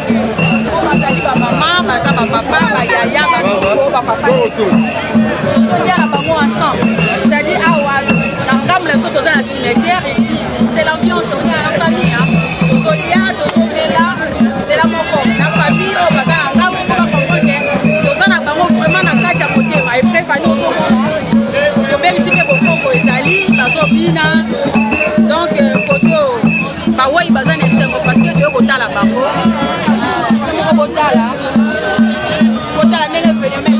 bazali bamama baza bapapa bayaya bakoko bapapa tozoliala bango ensemble c'est-à-dire awa na ngambo na biso toza na cimetière ici c'est l'ambiance oza na famille tozolia tozomela nzela moko na famille oyo baza na ngambo mpo bakomone toza na bango vraiment na kati ya motema eprefani ozomona tobebisi mpe bosongo ezali bazobina donc euh, koto bawei baza na esengo parceke toye kotala bango kotala kotala ndenge evenement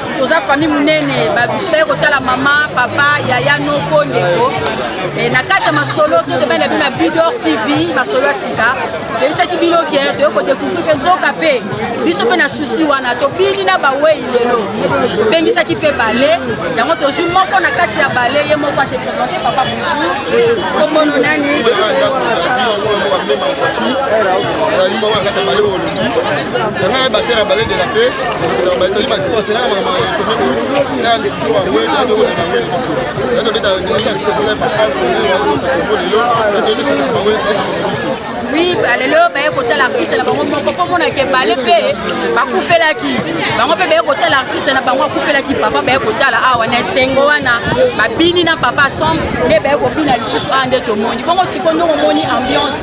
toza famille monene babiso baye kotala mama papa yaya noko ndeko e, na kati ya masolo bino tobani na bino na bidor tv masolo ya sika toyebisaki bino ke toye kodekouvrir mpe nzoka mpe biso mpe na susi wana tobini na bawei lelo tobengisaki mpe bale yango tozwi moko na kati ya bale ye moko ase présente papa bonjour komono nani nazali moko na kati ya bale oyo olongi yango ya batera bale de la paix oui balelo baye kotala artiste na bango moko mpo monake bale mpe bakufelaki bango mpe baye kotala artiste na bango akufelaki papa baye kotala awa na esengo wana babini na papa sombre nde baye kobina lisusu awa nde tomoni bongo sikoyo nde omoni ambiance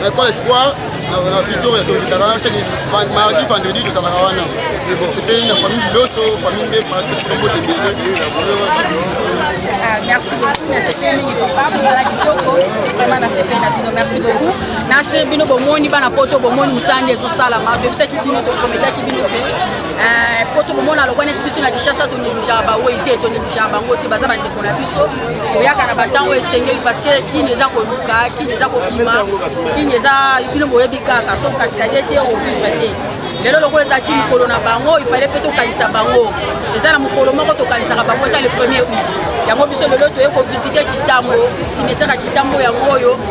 na école espoir na victoria tolitaka chaque mardi vendredi tozalaka wana epe na famille biloso famille nde matombo tebele merci beaucoup nasepeli mingi papa mosala kitoko vraiment nasepeli na bino merci beaucoup nase bino bomoni bana poto bomoni mosala nde ezosalama toyebisaki bino toprometaki bino te po tokomona lokwa neti biso na kinshasa toneglijaka bawei te toneglijaka bango te baza bandeko na biso koyaka na bantango esengeli parceke kini eza koluka kini eza kobima kini eza bino boyebi kaka so kasikade te ovivre te lelo lokola ezalaki mokolo na bango ifale mpe tokanisa bango eza na mokolo moko tokanisaka bango eza le premier out yango biso lelo toye kovisite kitambo simetiaka kitambo yango oyo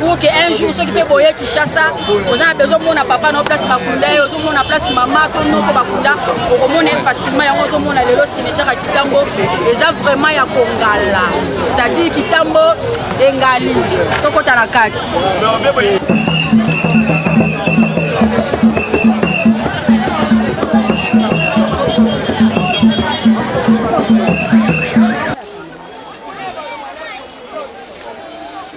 pour que un jour soki mpe boye kinshasa oza na bezo omona papa na place bakunda ye ozomona place mama to noko bakunda okomona ye facilement yango ozomona lelo cimetière ya kitambo eza vraiment ya kongala c'est-à-dire kitambo engali tokota na kati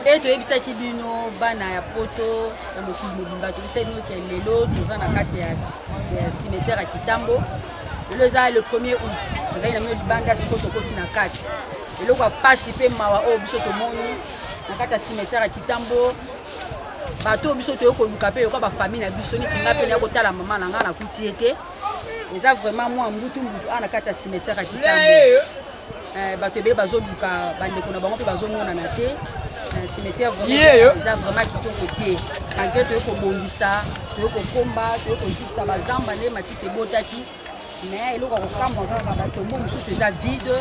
nde toyebisaki bino bana ya poto ya mokili mobimba toyebisaki bino ke lelo toza na kati ya cimetière ya kitambo lelo eza le premier août tozali na bino libanda siko tokoti na kati eloko ya mpasi mpe mawa oyo biso tomoni na kati ya cimetière ya kitambo bato oyo biso toyei koluka mpe yoka bafamille na biso neti ngai mpe naya kotala mama na ngai nakuti ye te eza vraiment mwa mbutu mbutu awa na kati ya cimetière ya kitambo eh, bato ebele bazoluka bandeko na bango mpe bazomonana te eh, cimetière eza vraiment kitoko te malgre toyei kobongisa toyei kokomba toyei kozikisa bazamba nde matiti ebotaki mais eloko ya kokamwa kaka batombo mosusu eza vide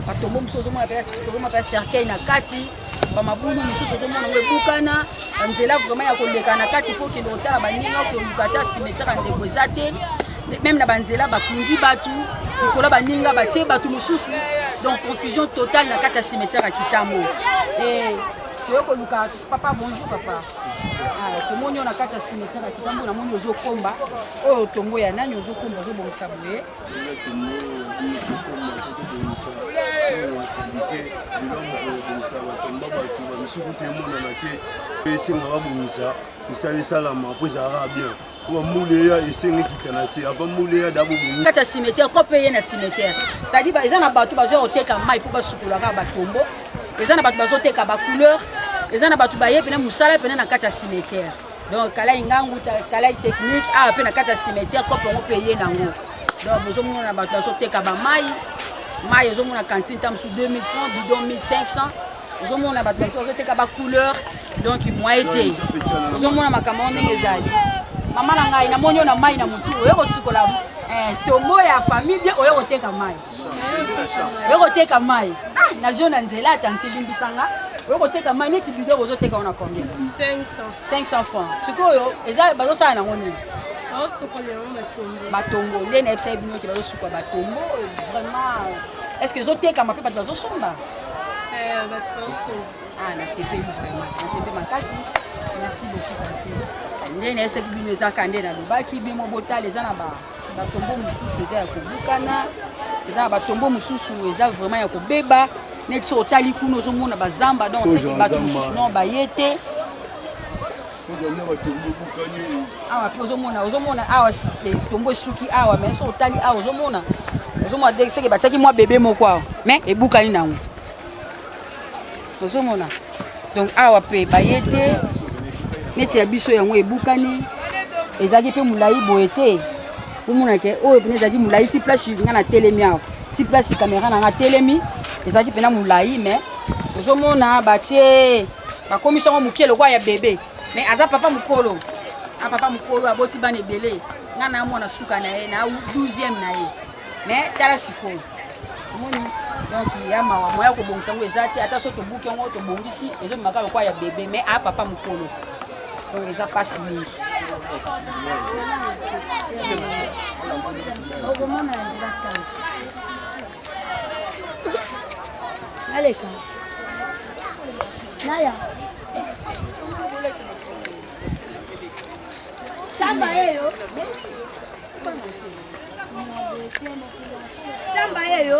batombo mosusu ozomona mpe cercueil na kati bamabulu mosusu ozomona ngo ebukana banzela vraiment ya koleka na kati mpo okende kotala baninga koluka ata simetiaka ndeko eza te meme na banzela bakundi bato likolo baninga batie bato mosusu donc confusion totale na kati ya cimetière ya kitambo eh, toye koluka Papa bonjour papa. Ah, tomoni yo na kati ya cimetière ya kitambo namoni ozokomba oyo tombo ya nani ozokomba ozobongisa boye misuku te emonana te mpe esenga babongisa misala esalama mpo ezalaka bien Kwa mule ya esengi kita na se avant mule ya dabo bu. Kata cimetière ko payer na cimetière. Ça dit ba eza na bato bazo oteka mai pour basukula ka ba tombo. Eza na bato bazo teka ba couleur. Eza na bato baye pena musala pena na kata cimetière. Donc kala ingangu kala technique a ah, pena kata cimetière ko pongo payer nango. Donc bozo mona bato bazo teka ba mai. Mai ezo mona cantine tam sous 2000 francs, bidon 1500. ozomona bato bato bazoteka bacouleur donc moye te ozomona makambo ndenge ezali mama na ngai namoni oyo na mai na motu oyo kosukola eh, tombo ya famille bien oyo koteka mai oyo koteka mai ah, nazio na nzela atanti limbisanga oyo koteka mai neti bido bozoteka wana combien 500 francs sikoyo eza bazosala nango nini batombo nde nayebisaki bino te bazosuka batombo vraiment est ce que ezotekama mpe bato bazosomba Ah, nasepeli vraiment nasepeli makasi merci beaucoup kasi nde nayesaki bino ezaka nde nalobaki bimo botala eza na batombo mosusu eza ya kobukana eza na batombo mosusu eza vraiment ya kobeba neti so otali kuna ozomona bazamba donc oseki bato mosusu non baye te awa mpe ozomona ozomona awa tombo esuki awa mai so otali awa ozomona ozomona de seke batiaki mwa bebe moko awa mai ebukani nango ozomona donc awa mpe baye te neti ya biso yango ebukani ezalaki mpe molai boye te omona ke oyo mpena ezalaki molai ti place nga na telemi awa ti place kamera na nga telemi ezalaki mpena molai mai ozomona batie bakomisi yango moke lokola ya bebe me aza papa mokolo a ah, papa mokolo aboti bana ebele ngai na mwana suka na ye na 12e na ye me tala sikoyo omoni donc ya mawa moya kobongisa yango eza te ata so tobuki yango tobongisi ezomimaka lokola ya bebe me a ah, papa mokolo donc eza mpasi mingi okomona yango batanga Naleka. Naya. Tamba yeyo. Tamba yeyo.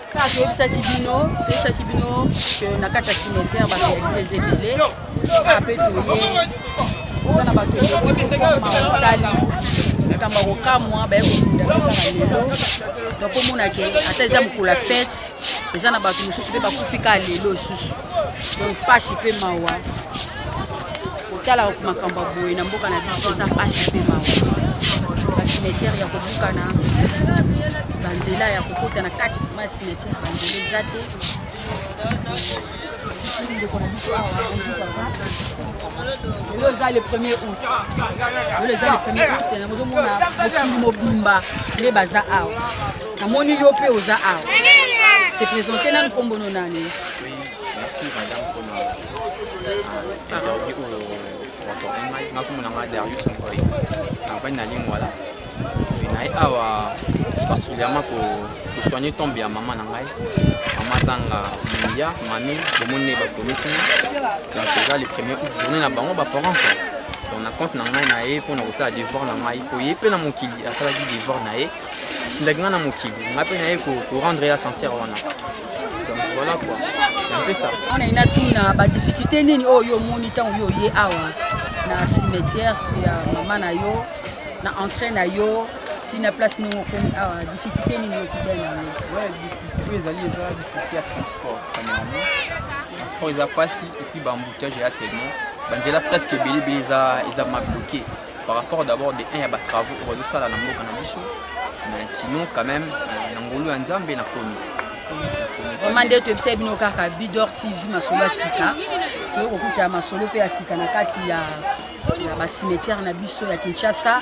kaka toyebisaki bino toyebisaki bino ke na kati ya cimetière barealites ebele kaka mpe toye eza na bato basali makambo ya kokamwa baye kokunda lelo donc omona ke ata eza mokolo ya fete eza na bato mosusu mpe bakufi kaka lelo lisusu donc pasi mpe mawa kotalaka makambo ya boye na mboka na biso eza pasi mpe mawa basimetiere ya kobukana banzela ya kokota na kati ma ya simetiere banzela eza te ndeko na biso awa lelo eza le premier août lelo eza le premier août nazomona mokili mobimba nde baza awa Namoni yo pe oza awa. Se présenter nanu kombo no nani? Merci madame pona interview oyo watordi ngai nga kombo na ngai Darius Mokoi na mpani na lingwala naye awa particulièrement kosoigne tombe ya mama na ngai mama azanga moya mami bomoni ne bakomi kuna donc eza le premier août journée na bango baparent donc na compte na ngai na ye mpo na kosala devoir na ngai mpo ye mpe na mokili asalaki devoir na ye atindaki nga na mokili nga mpe naye korendre ya sincere wana donc voilà quoi mpe ça wana ina tuna badifficulté nini oyo yo omoni ntango yo oye awa na cimetière ya mama na yo na entrée na yo ti na place ndenge okomi awa difficulté nini okutani yango difficulté ezali eza difficulté ya transport premièrement transport eza mpasi epuis baembouteillage eya tellement banzela presque ebele ebele eza mabloke par rapport d'abord de un ya batravaux oyo bazosala na mboka na biso mais sinon quand même euh, na ngolu ya nzambe nakomi vraimen nde toyebisai bino kaka bidor tv masolo ya sika toyei kokuta masolo mpe ya sika na kati ya basimetiare na biso ya kinshasa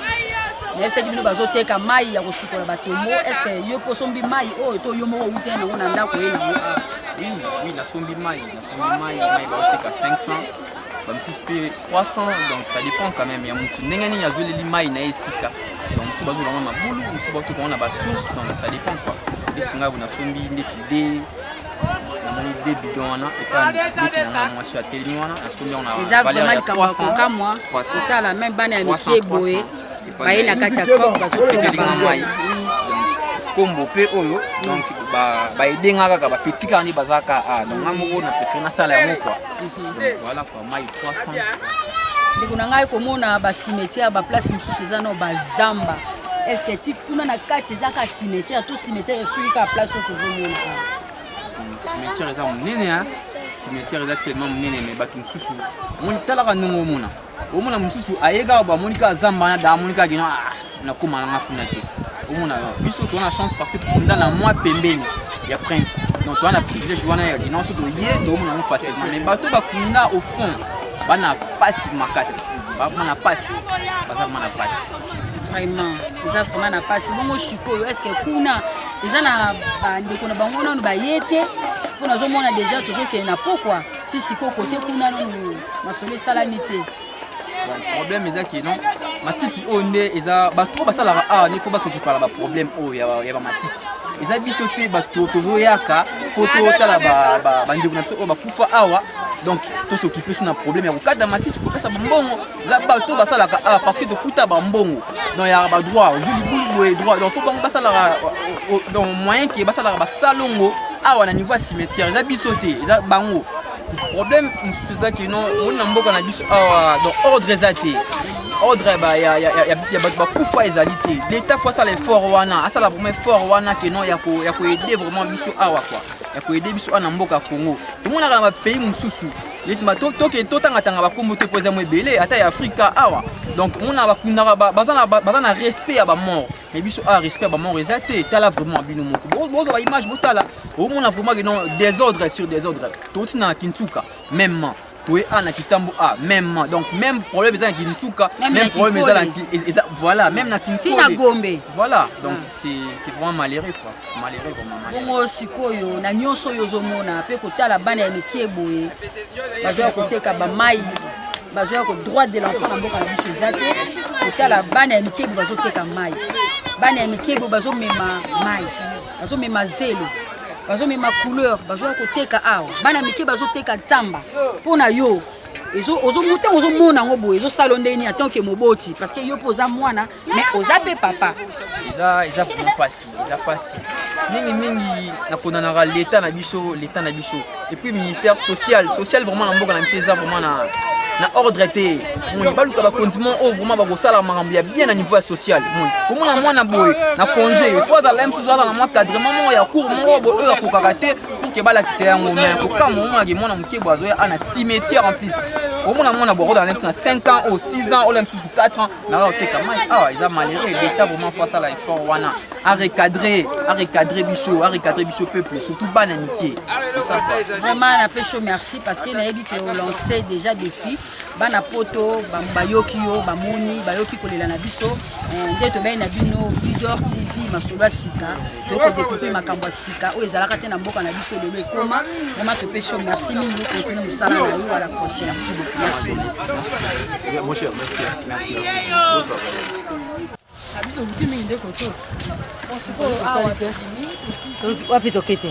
nayebisaki bino bazoteka mai ya kosukola batombo estce yo mpo osombi mai oyo to yo moko outa yango na ndako ye nango ah. oui oui nasombi mai nasombi mai mai baoteka 500 bamisusu mpe 300 donc ça dépend quand même ya motu ndenge nini azweleli mai na ye esika donc mosusu bazwela yango na mabulu mosusu batoka yango na basource donc ça dépend quoi esi ngai bonasombi ndeti de namoni de bidon wana epaananga mwasi atelemi wana nasombi yango na valeur ya 300 otala meme bana ya mike boye baye na kati ya coop bazoteka bamai nkombo mpe oyo donc baedenga kaka bapeti kaka nde baza ka a donc nga moko na prefere nasala yango kua voilà kua mai 300 ndeko na ngai komona basimetiere ya baplace mosusu eza no bazamba estce ti kuna na kati eza ka simetiere to simetiere esuki kaka place oyo tozomona simetiere eza monene simetiere eza tellement monene me bato mosusu omoni talaka ndenge omona omona mosusu aye kaka bamoni kaka zamba wana da amoni kaka kino ah, nakoma nanga kuna te omona biso toza na chance parce que tokunda na mwa pembeni ya prince donc toza na privilège wana ya kino so toye toomona yango facilement mais bato bakunda au fond bana mpasi makasi bakoma na mpasi baza koma na mpasi vraiment eza vraiment na mpasi bongo sikoyo estce kuna eza na bandeko na bango nano baye te mpo nazomona deja tozokende na pokwa ti sikoyo kote kuna nano masolo esalami te problème eza ke non matiti oyo nde eza bato oyo basalaka awa nde fo basokipa na baproblème oyo ya bamatiti eza biso te bato tozoyaka mpo totala bandeko na biso oyo bakufa awa donc tosokipe so na problème ya kokata matiti kopesa bambongo eza bato oyo basalaka awa parce que tofuta bambongo donc ya badroit ozwi libulu boye droit donc fo bango basalaka donc moyen ke basalaka basalongo awa na niveau ya cimetière eza biso te eza bango problème mosusu eza kino omoni na mboka na biso awa donc ordre eza te ordre ya bato bakufa ezali te leta fo asala effort wana asala vraiment effort wana ke non ya koaide vraiment biso awa kua ya koaide biso awa na mboka ya congo tomonaka na bapays mosusu toke totangatanga bakombo te mpo eza mo ebele ata ya afrika awa donc mona bakundaka baza na respect ya bamort mais biso a ah, respect ba mort eza te tala vraiment bino moko bozo ba image botala omona vraiment que non désordre sur désordre toti na kinsuka même toye a na kitambo a même donc même problème eza na kinsuka même problème eza na eza voilà même na kinsuka na gombe voilà donc ah. c'est c'est vraiment malheureux quoi malheureux vraiment malheureux bongo sikoyo na nyonso oyo ozomona pe kotala bana ya mikie boye bazoya koteka bamai bazoya ko droit de l'enfant na mboka na biso eza te kotala bana ya mike bo bazoteka mai bana ya mike bo bazomema mai bazomema zelo bazomema couleur bazoya koteka awa bana mike bazoteka nsamba mpo na yo ntango ozomona yango boye ezosala ndenge nini atanke moboti parce que yo mpo oza mwana mais oza pe papa eza eza vraiment pasi eza pasi mingi mingi nakonanaka leta na biso leta na biso et puis ministère social social vraiment na mboka na biso eza vraiment na na ordre te moni baluka bakonzi mo oyo vraiment bakosala makambo ya bien na niveau ya social moni komona mwana boye na congé fo azala mosusu azala mwa cadrement moko ya cour moko boye oyo akokaka te pour ke balakisa yango me kokama omonaki mwana moke boye azoya ana cimetière en plus omona mwana boye akozala na 5 ans o 6 ans ola mosusu 4 ans naza koteka mai awa eza malheureux leta vraiment fo asala effort wana arecadre arecadre biso arecadre biso peuple surtout bana mike vraiment napesi yo merci parce que nayebi ke olance déjà défi bana poto bayoki yo bamoni bayoki kolela na biso eh, nde tobei na bino leader tv masolo ya sika tokodekouvrir makambo ya sika oyo ezalaka te na mboka na biso lelo ekoma vraimen topesi yo merci mingi okontinue mosala na yo à la prochaine merci wapi toke te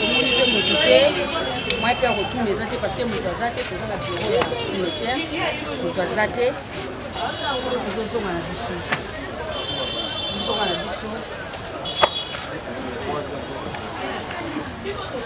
tomoni mpe moto te mwa mpe ya kotuna eza te parce que moto aza te toza na biro ya cimetière moto aza te tozozonga na biso tozozonga na biso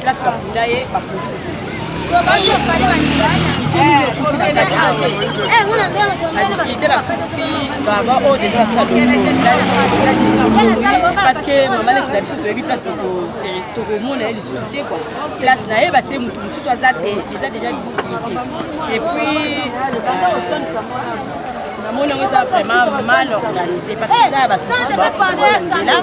place bakunda ye bakundi baba oyo deja asala parce que mama leki na biso toyebi place tokomona ye lisusu te kua place na ye batie motu mosusu aza te eza deja et puis namoni yango eza vraiment mal organisé parce que eza ya basnzela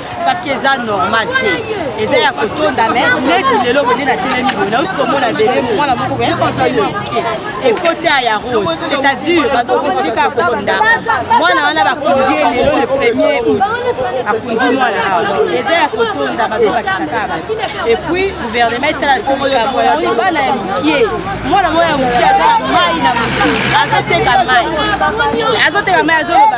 parce que eza normal te eza ya kotonda me neti lelo bende na telemi boye nausi komona bebe mwana moko boye sansaimo moke ekoti ya ya rose c'est-à-dire bazokontinue kaka kokonda mwana wana bakundi ye lelo le premier août akundi mwana awa eza ya kotonda bazobakisa kaka bato epuis gouvernement etala soko likambo yango libana ya mokie mwana moko ya mokie aza na mai na motu azoteka mai azoteka mai azoloba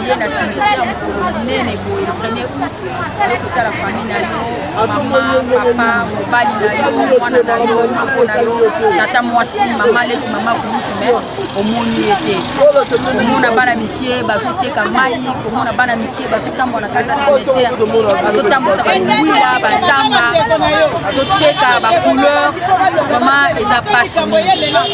oye na cimetière ya mokolo monene boye le premier août oye kotala famille na yo mama papa mobali na yo mwana na yo moko na yo tata mwasi mama leki mama kulutu me omoni ye te komona bana mikie bazoteka mai komona bana mikie bazotambola na kati ya cimetière bazotambwisa bangwila batanga bazoteka bacouleur vraiment eza pasi mingi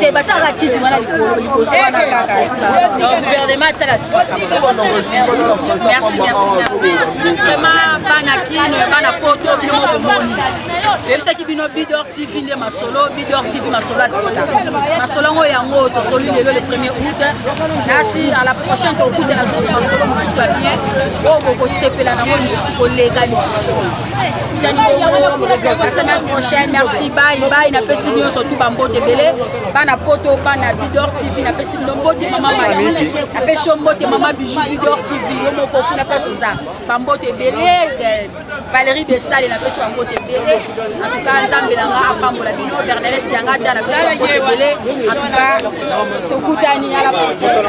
te batia kaka kiti wana likolo liboso wana kaka gouvernement atala merci merci merci vraiment bana kino ya bana poto bino mokomoni oyebisaki bino bidor tv nde masolo bidor tv masolo ya sika masolo yango yango tosoli lelo le premier août nasi à la prochaine tokutana susu masolo mosusu ya bien oyo bokosepela nango lisusu koleka lisusu la semaine prochaine merci bye bye napesi bino surtout bambote ebele bana poto bana bidor tv napesi bino mbote mama maki napesi yo mbote mama bijou bidor tv yo moko kuna place oza bambote ebele valérie besale napesi yo mbote ebele en tout cas nzambe nanga apambola bino bernadette yangata napesi yo mbote ebele en tout cas tokutani à la prochaine